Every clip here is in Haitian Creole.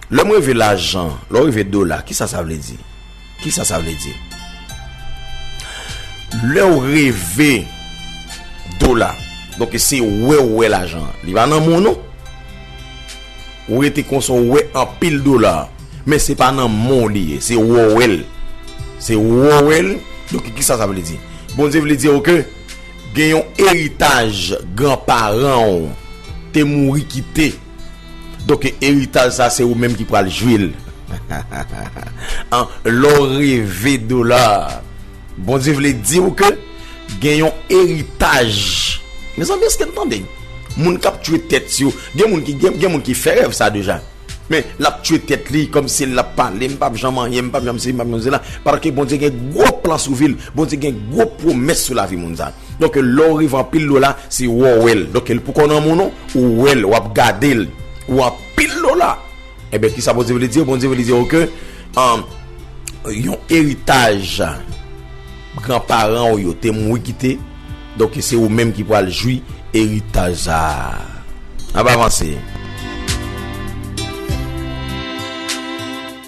Lè m reve lajan, lè w reve dola, ki sa sa vle di? Ki sa sa vle di? Lè w reve dola, donke se wè w wè lajan an. Li pa nan men w non. Ou rete konsa w wè anpil dola. Men se pa nan men w li ye. Se wè w wè l. Se wè w wè l. Donke ki sa sa vle di? Bondye vle di w ke gen yon eritaj gran paran w te mouri kite. Donk eritaj sa se ou menm ki pral jwi l an lè w reve dola Bondye vle di w ke gen yon eritaj Mezanmi èske n tande moun k ap tiye tèt yo gen moun ki gen moun ki fè rèv sa deja men l ap tiye tèt li kòm si l ap pale m p ap janm anyen m p ap janm si m p ap janm sila paske Bondye gen gwo plan sou vi l Bondye gen gwo pwomès sou lavi moun sa. Donk lè w rive anpil dola se wè w wè l. Donk l pou konn an moun ou wè l, w ap gade l. Ou anpil dola. Enben kisa Bondye vle di w? Bondye vle di w ke yon eritaj gran paran w yo te mouri kite. Donk se ou menm ki pral jwi eritaj sa a. N ap avanse.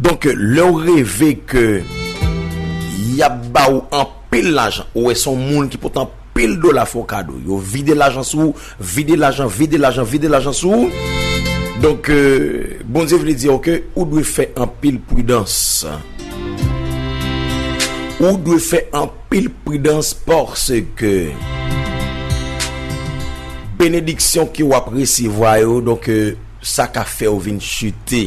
Donk lè ou reve ke y ap ba ou anpil lajan, ou wè son moun ki pot anpil dola fè w kado, yo vide lajan sou ou, Vide lajan, vide lajan, vide lajan sou ou. Donk, Bondye vle di ou ke ou dwe fè anpil pridans. Ou dwe fè anpil pridans paske benediksyon ke w ap resevwa yo, donk, sa ka fè ou vin chite,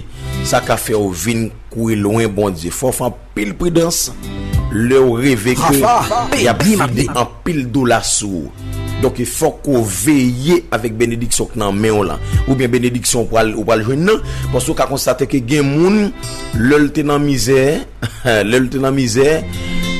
sa ka fè ou vin kouye lwen Bondye. Fò w fè anpil. Pil pridans lew reve ke yap vide anpil dola sou ou donk fok ou veye avek benediksyon k nan menw lan oubyen benediksyon ou pral ou pral jwenn nan paske ou ka konstate ke gen moun lel te nan mizè lel te nan mizè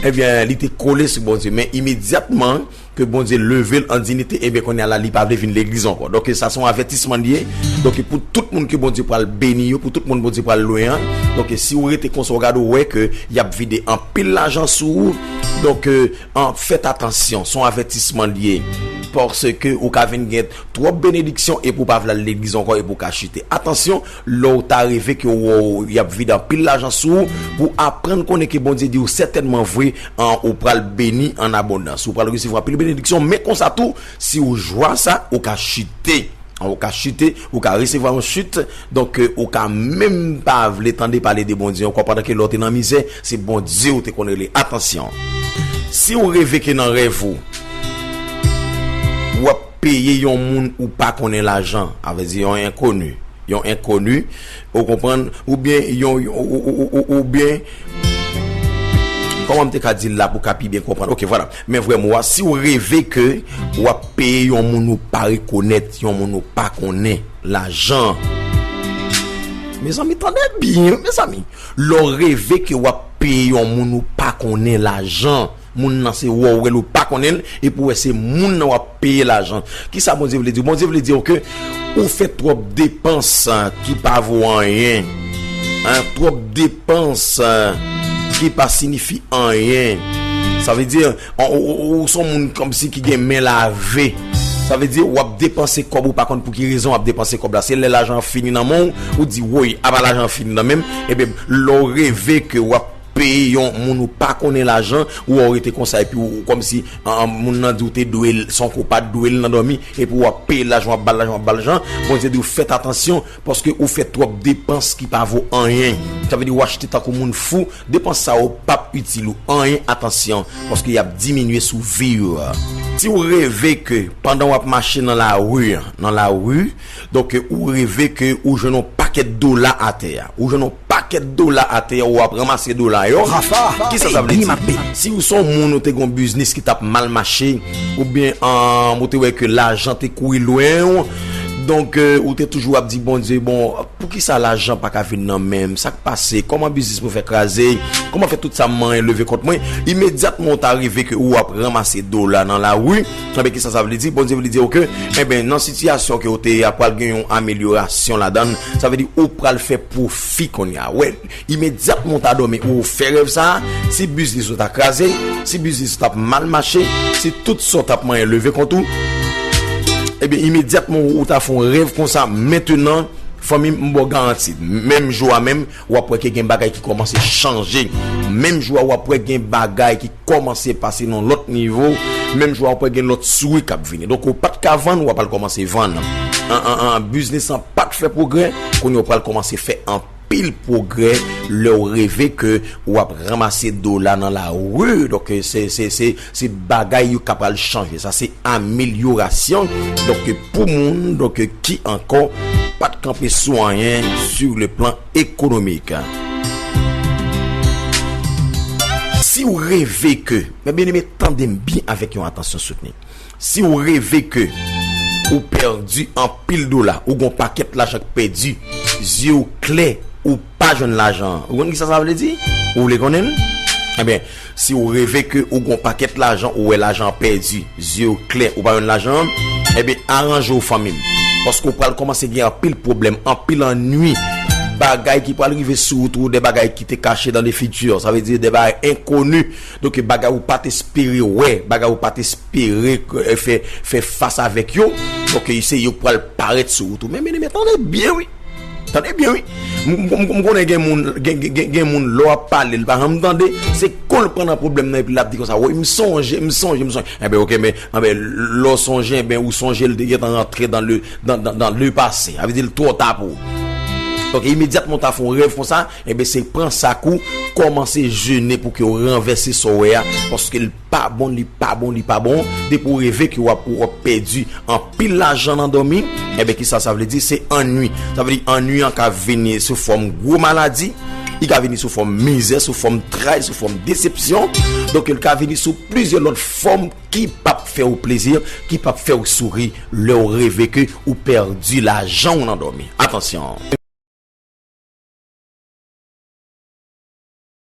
ebyen li te kole sou Bondye men imedyatman Ke Bondye level an dinite enben konnya la li pa vle vin legliz ankò donk ke sa son avètisman liye donk ke pou tout moun ke Bondye pral beni yo pou tout moun Bondye pral lwen an donk ke si ou rete konsa ou gade ou wè ke yap vide anpil lajan sou ou donk ke an fèt atansyon son avètisman liye paske ou ka vin gen twòp benediksyon epi ou pa vle al legliz ankò epi ou ka chite atansyon. Lè w ta reve ke w wè w y ap vide anpil lajan sou ou, pou w aprann konnen ke Bondye di w sètènman vre, an, ou pral beni an abondans. Ou pral resevwa anpil benediksyon, men konsa tou, si w jwa sa, ou ka chite. An, ou ka chite, ou ka resevwa yon chit. Donk, ou ka menm pa vle tande pale de Bondye ankò pandan ke lè w te nan mizè, se Bondye ou te konn rele. Atansyon! Si w reve ke nan rèv ou, w ap. peye yon moun ou pa konnen lajan, a vle di yon enkoni, yon enkoni, ou konprann, oubyen yon, oubyen. Kòman m te ka di l la pou w ka pi byen konprann? Ok, vwala. Men vrè mo a, si w reve ke w ap peye yon moun ou pa rekonèt, yon moun ou pa konnen lajan. Mezanmi, tande byen, mezanmi! Lè w reve ke w ap peye yon moun ou pa konnen lajan. Moun nan se wè w wè l ou pa konnen l epi w wè se moun nan w ap peye lajan. Kisa Bondye vle di w? Bondye vle di w ke ou fè twòp depans ki pa vo anyen, twòp depans ki pa sinifi anyen. Sa vle di ou se yon moun kòmsi ki gen men lave. Sa vle di w ap depanse kòb ou pa konn pou ki rezon w ap depanse kòb la. Se lè lajan an fini nan men w, ou di woy apa lajan an fini nan men m. Ebyen lè w reve ke w ap. Peye yon moun ou pa konnen lajan ou wè ou rete konsa epi ou kòmsi moun nan di ou te dwe l san ke w pa t dwe l nan dòmi epi w ap peye l lajan w ap ba l lajan w ap ba l lajan Bondye di w fèt atansyon paske ou fè twòp depans ki pa vo anyen sa vle di w achte tankou moun fou depans sa yo p ap itil ou anyen atansyon paske y ap diminye sou vi w. Si w reve ke pandan w ap mache nan lari nan lari donk ou reve ke ou jwenn yon pakèt dola atè a ou jwenn yon. Pakèt dola atè ou ap ranmase dola yo. Rafa, kisa sa vle di? Si ou se yon moun ou te gen yon biznis ki tap mal mache oubyen ou te wè ke lajan te kouri lwen ou donk ou te toujou ap di Bondye bon poukisa lajan pa ka vin nan menm sak pase kòman biznis mwen fè kraze kòman fè tout sa m manyen leve kont mwen imedyatman ou ta rive ke ou ap ranmase dola nan lari. Ebyen kisa sa vle di? Bondye vle di yo ke, enben nan sitiyasyon ke ou te ye a pral gen yon amelyorasyon ladann, sa vle di ou pral fè pwofi kounye a. Wè, imedyatman ou ta dòmi ou fè rèv sa, si biznis ou ta kraze, si biznis ou tap mal mache, si tout sa ou tap manyen leve kont ou, ebyen imedyatman ou ta fon rèv konsa mentenan, fanmim m baw garanti, menm jou a menm. Wap wè ke gen bagay ki kòmanse chanje. Menm jou a wap wè gen bagay ki kòmanse pase nan lòt nivo. Menm jou a wap wè gen lòt souri kap vini. Donk ou pat ka vann, wap al kòmanse vann. Biznis lan pat fè pwogrè, kounye ou pral kòmanse fè anpil pwogrè lèw reve ke wap ranmase dola nan lari. Donk se. Se bagay yo ka pral chanje. Sa se amelyorasyon. Donk pou moun donk ki ankò pa t kanpe sou anyen sou le plan ekonomik. Si ou reve ke, mè byen eme tande m byen avèk yon atansyon soutni. Si ou reve ke ou pèdi anpil dola, ou gon pakèt lajan k pèdi, zye ou klè, ou pa jwenn lajan. Ou konn ki sa sa vle di? Ou vle konnen l? Ebyen. Si ou reve ke ou gon pakèt lajan ou wè lajan an pèdi zyew klè ou pa jwenn lajan an enben aranjew fanmim paske ou pral kòmanse gen anpil pwoblèm anpil annwi bagay ki pral rive sou wout ou de bagay ki te kache dan le futur sa vle di de bagay enkoni donk bagay ou pat espere wè bagay ou pat espere fè fas avèk yo donk se yo ki pral parèt sou wout ou men byeneme tande byen wi. Tande byen wi. M konnen gen moun gen moun lè w ap pale l pa janm tande. Se kò l pran nan pwoblèm nan epi l ap di konsa woy m sonje m sonje m sonje. Enben ok men anben lè w sonje enben ou sonje l te gentan rantre dan le dan dan dan le pase. Sa vle di l twò ta pou ou. Donk imedyatman w ta fè yon rèv konsa enben se pran sak ou kòmanse jene pou ke w ranvèse sa w wè a paske l pa bon li pa bon li pa bon depi ou reve ke wap ou ap pèdi anpil lajan nan dòmi enben kisa sa vle di se annui sa vle di annui an ka vini sou fòm gwo maladi li ka vini sou fòm mizè sou fòm tray sou fòm desepsyon donk el ka vini sou plizyè lòt fòm ki pap fè ou plezi ki pap fè ou souri lè ou reve ke ou pèdi lajan ou nan dòmi atansyon.